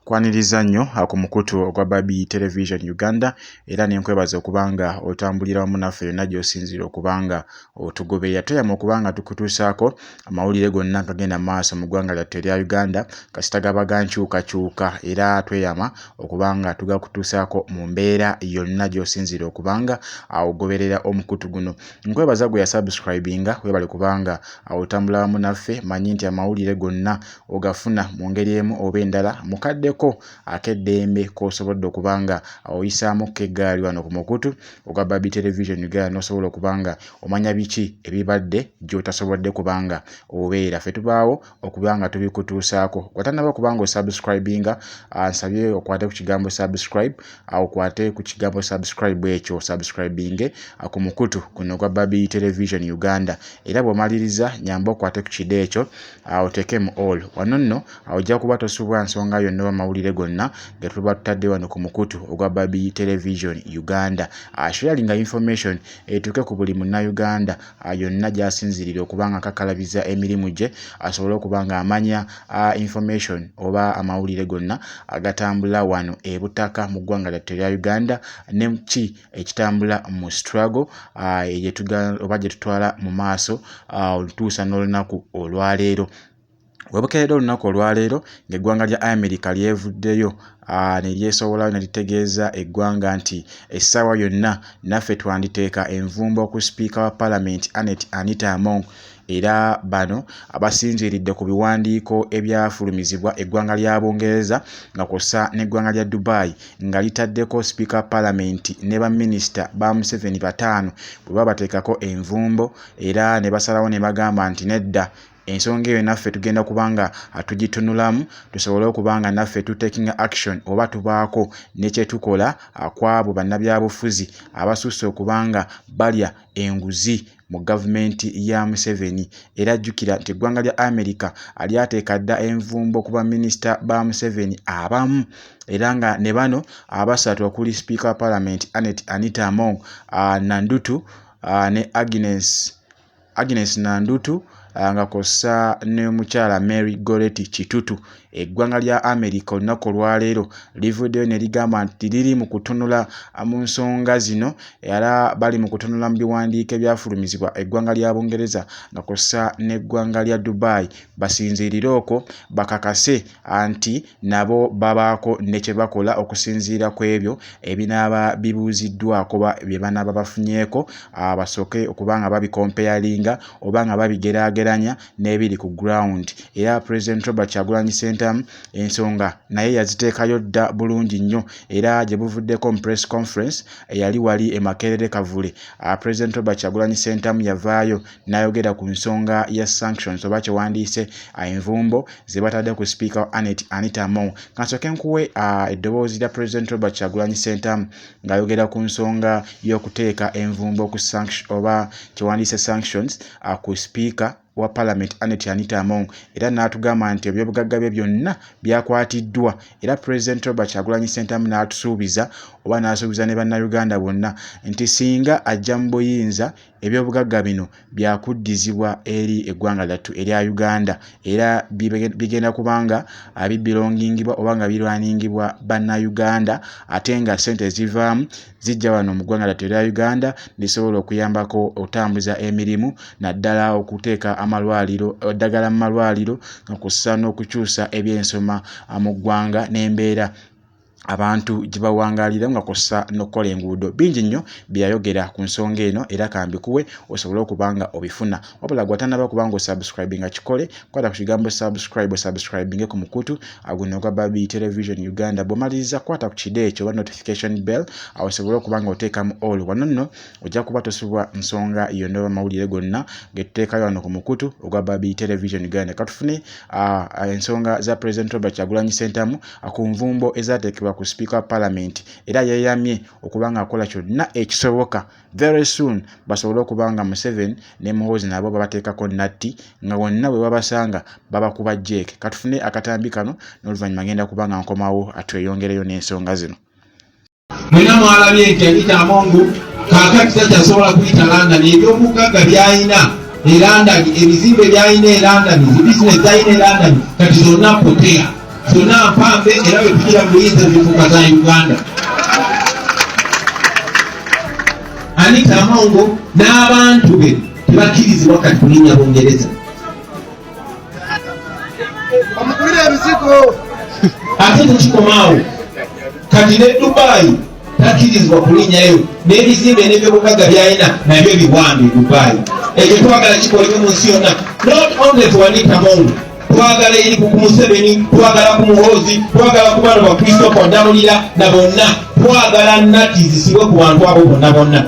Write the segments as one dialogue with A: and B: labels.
A: Nkwaniriza nnyo ku mukutu ogwa Babi Television Uganda era ne nkwebaza okuba nga otambulira wamu naffe yonna gy'osinziira okuba nga otugoberera. Tweyama okuba nga tukutuusaako amawulire gonna agagenda mu maaso mu ggwanga lyattu erya Uganda kasita gaba ga nkyukakyuka era tweyama okuba nga tugakutuusaako mu mbeera yonna gy'osinziira okuba nga ogoberera omukutu guno. Nkwebaza gwe yasubscribinga, weebale kuba nga otambula wamu naffe. Mmanyi nti amawulire gonna ogafuna mu ngeri emu oba endala mu kadde ko ak'eddembe k'osobodde okuba nga oyisaamuko eggaali wano ku mukutu ogwa Barbie Television Uganda n'osobola okuba nga omanya biki ebibadde gy'otasobodde kuba nga obeera. Ffe tubaawo okuba nga tubikutuusaako. Watannaba okuba nga osubscribinga, ah, nsabye okwate ku kigambo subscribe, ah, okwate ku kigambo subscribe ekyo osubscribinge ah, ku mukutu guno ogwa Barbie Television Uganda era bw'omaliriza nyamba okwate ku kide ekyo awo oteekemu all wano nno awo ojja kuba tosubwa nsonga yonna oba mawulire gonna ge tuba tutadde wano ku mukutu ogwa babi television uganda asharinga ah, information etuuke ku buli munnayuganda ah, yonna gyasinzirira okuba nga akakalabiza emirimu gye asobole okuba nga amanya ah, information oba amawulire gonna agatambula wano ebutaka mu ggwanga lyattu erya uganda ne ki ekitambula mu struggle ah, oba gye tutwala mu maaso ah, olutuusa n'olunaku olwaleero webukeeredde olunaku olwaleero ng'eggwanga lya amerika lyevuddeyo ah, ne lyesowolayo ne litegeeza eggwanga nti essaawa yonna naffe twanditeeka envumbo ku sipiika wa palamenti anet anita among era bano abasinziiridde ku biwandiiko ebyafulumizibwa eggwanga lya Bungereza nga kw'ossa n'eggwanga lya Dubai nga litaddeko sipiika wa palamenti ne baminisita ba Museveni bataano bwe babateekako envumbo era ne basalawo ne bagamba nti nedda ensonga eyo naffe tugenda kuba nga tugitunulamu tusobole okuba nga naffe tu taking action oba tubaako ne kye tukola kw'abo bannabyabufuzi abasusse okuba nga balya enguzi mu gavumenti ya Museveni era jjukira nti eggwanga lya Amerika lyateeka dda envumbo ku baminisita ba Museveni abamu era nga ne bano abasatu okuli sipiika wa palamenti Annet Anita Among Nandutu ne Agnes Agnes Nandutu nga kw'ossa ne mukyala Mary Goretti Kitutu. Eggwanga lya America olunaku olwaleero livuddeyo ne ligamba nti liri mu kutunula mu nsonga zino era bali mu kutunula mu biwandiiko ebyafulumizibwa eggwanga lya Bungereza nga kw'ossa n'eggwanga lya Dubai basinziirire okwo bakakase anti nabo babaako ne kye bakola okusinziira ku ebyo ebinaaba bibuuziddwako oba bye banaaba bafunyeeko basooke okuba nga babikompeyalinga oba nga babigeraageranya n'ebiri ku ground era Pulezidenti Robert Kyagulanyi Ssentamu ensonga naye yaziteekayo dda bulungi nnyo era gye buvuddeko mu Press Conference eyali wali e Makerere Kavule, Pulezidenti Robert Kyagulanyi Ssentamu yavaayo n'ayogera ku nsonga ya sanctions oba kye wandiise envumbo ze batadde ku sipiika wa Anet Anita Among. Kansooke nkuwe eddoboozi lya President Robert Kyagulanyi Ssentamu ng'ayogera ku nsonga y'okuteeka envumbo ku sanction oba kye wandiise sanctions ku sipiika wa Parliament Anet Anita Among era n'atugamba nti ebyobugagga bye byonna byakwatiddwa era President Robert Kyagulanyi Ssentamu n'atusuubiza oba n'asuubiza ne Bannayuganda bonna nti singa ajja mu buyinza ebyobugagga bino byakuddizibwa eri eggwanga lyattu erya Uganda era bigenda kuba nga bibilongingibwa oba nga birwaningibwa Bannayuganda ate nga ssente ezivaamu zijja wano mu ggwanga lyattu erya Uganda lisobola okuyambako okutambuza emirimu naddala okuteeka amalwaliro eddagala mu malwaliro nga kw'ossa n'okukyusa ebyensoma mu ggwanga n'embeera abantu gye bawangaalira nga kw'ossa n'okukola enguudo. Bingi nnyo bye yayogera ku nsonga eno era ka mbikuwe osobole okuba nga obifuna. Wabula gwe atannaba kuba ng'osubscribinga kikole, kwata ku kigambo subscribe osubscribinge ku mukutu ah, guno ogwa Babi Television Uganda. Bw'omaliriza kwata ku kide ekyo oba notification bell awo osobole okuba ng'oteekamu all. Wano nno ojja kuba tosubwa nsonga yonna oba mawulire gonna getuteekayo wano ku mukutu ogwa babi television uganda katufune ah, ah, ensonga za president robert kyagulanyi sentamu ah, ku nvumbo ezateekebwa ku speaker wa parliament era yeyamye okuba nga akola kyonna ekisoboka very soon basobole okuba nga museven ne muhoozi nabo babateekako natti nga wonna bwe babasanga babakuba jeeke katufune akatambi kano n'oluvannyuma ngenda kuba nga nkomawo atweyongereyo n'ensonga zino mwena
B: mwalabye nti anita amongu kakati takyasobola kuyita london ebyobugagga byalina e london ebizimbe byalina e london ebisinesi zalina e london kati zonna potea zonna mpambe era bwetugira muyinza zifuka za uganda anita amongo n'abantu be tebakkirizibwa kati kulinya bungereza bamugulira ebizigo ate tekikomaawo kati ne dubayi takirizibwa kulinyayo n'ebizimbe n'ebyobugagga byalina nabyo biwambe dubayi ekyo twagala kikolebwe mu nsi yonna not only tuwanika mungu twagala eri ku museveni twagala ku muhoozi twagala ku bano bakristo kwadamulira na bonna twagala nati zisibwe ku bantu abo bonna bonna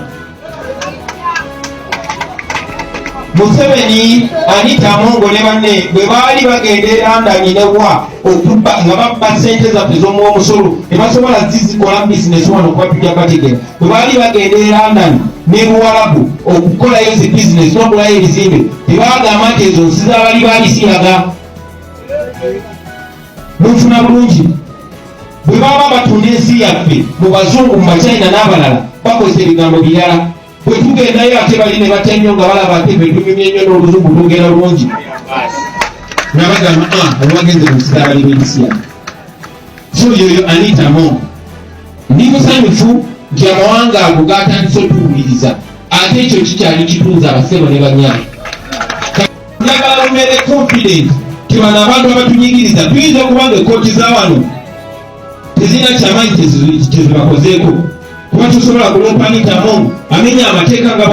B: museveni anita amongo ne banne bwe baali bagenda erandanyi newa okubba nga babba sente zaffe zomu omusolo tebasobola zizikola bizinesi wano kuba tujja bategera bwe baali bagenda erandanyi ne buwalabu okukolayo zi bizinesi nokulayo ebizimbe tebagamba nti ezo nsi zabali balisiyaga munfuna bulungi bwe baba batunda ensi yaffe mu bazungu mu bachina n'abalala bakozesa ebigambo birala bwe tugendayo ate bali ne batya nnyo nga balaba ate fe tunyumye nnyo n'oluzungu twogera bulungi nabagamba ah, olwagenze mu kisaala ly'ensi yaffe so yoyo anitamu ndi musanyufu nti amawanga ago gatandise otuwuliriza ate ekyo kikyali kitunza abasebo ne banyayi njagala lubeere confident nti bano abantu abatunyigiriza tuyinza okuba nga ekkooti za wano tezirina kyamanyi kyezibakozeeko kuba tusobola kulompa nitamu amenya amateeka nga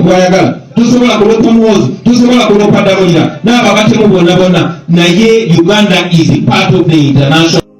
B: bwayagala tusobola kulompa muwozi tusobola kulompa damulira n'ababatemu bonna bonna naye uganda is part of the international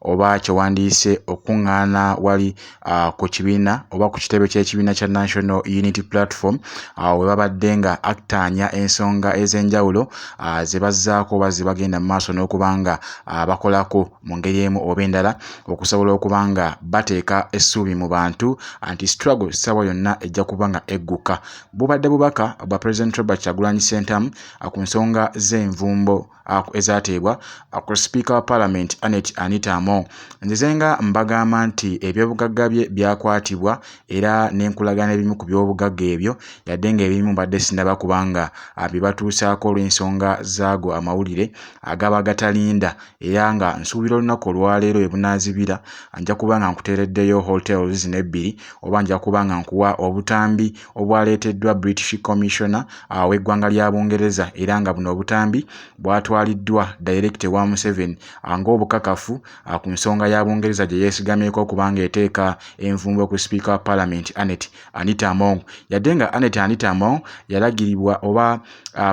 A: oba kye wandiyise okukuŋŋaana wali uh, ku kibiina oba ku kitebe ky'ekibiina kya national unity platform awo uh, we babadde nga aktaanya ensonga ez'enjawulo uh, ze bazzaako oba ze bagenda mu maaso n'okuba nga uh, bakolako mu ngeri emu oba endala okusobola okuba nga bateeka essuubi mu bantu anti struggle ssaawa yonna ejja kuba nga egguka bubadde bubaka bwa president robert kyagulanyi sentamu uh, ku nsonga z'envumbo ezateebwa ku sipiika wa palamenti Annet Anita Among. Nzize nga mbagamba nti ebyobugagga bye byakwatibwa era ne nkulaga n'ebimu ku byobugagga ebyo yadde ng'ebimu mbadde sinnaba kuba nga abibatuusaako olw'ensonga zaago amawulire agaba gatalinda era nga nsuubira olunaku olwaleero we bunaazibira nja kuba nga nkuteereddeyo hotels n'ebbiri oba nja kuba nga nkuwa obutambi obwaleeteddwa British Commissioner w'eggwanga lya Bungereza era nga buno obutambi bwatwaliddwa Dayirekita ewa Museveni ng'obukakafu ku nsonga ya Bungereza gye yeesigamyeko okuba ng'eteeka envumbo ku Sipiika wa Palamenti Annet Anita Among yadde nga Annet Anita Among yalagiribwa oba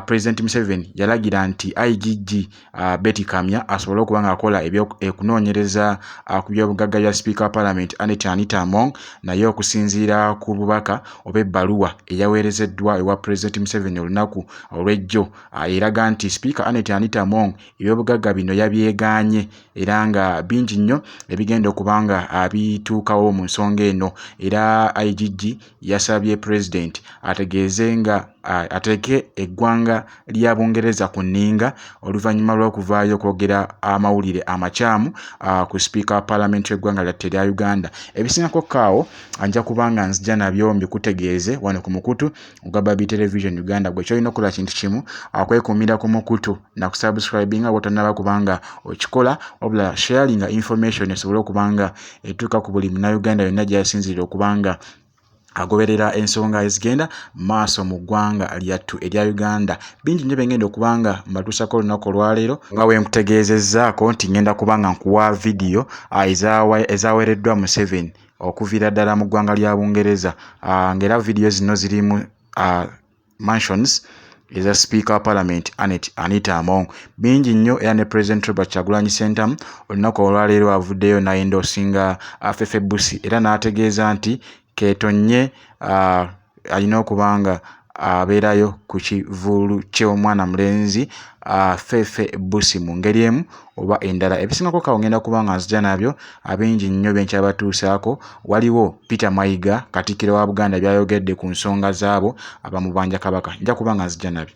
A: Pulezidenti Museveni yalagira nti IGG uh, Betty Kamya asobole okuba ng'akola ekunoonyereza uh, ku byobugagga bya sipiika wa palamenti Annet Anita Among naye okusinziira ku bubaka oba ebbaluwa eyaweerezeddwa ewa pulezidenti Museveni olunaku olw'ejjo uh, eraga nti sipiika Annet Anita Among ebyobugagga bino yabyegaanye era nga bingi nnyo ebigenda okuba nga abituukawo mu nsonga eno era IGG yasabye Pulezidenti ategeeze nga ateeke eggwanga lya Bungereza ku nninga oluvannyuma lw'okuvaayo okwogera amawulire amakyamu ku sipiika wa palamenti y'eggwanga lyatte erya Uganda. Ebisingako kaawo nja kuba nga nzija nabyo mbikutegeeze wano ku mukutu ogwa Babi Television Uganda. Gwe kyolina okukola kintu kimu kwekuumira ku mukutu na kusubscribinga bw'otannaba kubanga okikola wabula sharinga information esobole okuba nga etuuka ku buli munauganda yonna gyasinzirira okubanga agoberera ensonga ezigenda maaso mu ggwanga lyattu erya uganda bingi nnyo byengenda okuba nga mbatuusako olunaku olwaleero nga wenkutegeezezzaako nti ngenda kuba nga nkuwa vidiyo ah, ezaweereddwa museveni okuviira ddala mu ggwanga lya bungereza ah, ngaera vidiyo zino zirimu ah, mansions eza sipiika wa palamenti anet anita among bingi nnyo era ne president robert kyagulanyi sentamu olunaku olwaleero avuddeyo nayenda osinga afefe busi era n'ategeeza nti ketonye uh, alina okuba nga abeerayo ku kivulu ky'omwana mulenzi uh, fefe busi mu ngeri emu oba endala ebisingako kawo ngenda kuba nga nzija nabyo abingi nnyo byenkyabatuusaako waliwo peter mayiga katikkiro wa buganda byayogedde ku nsonga zaabo abamubanja kabaka nja kuba nga nzija nabyo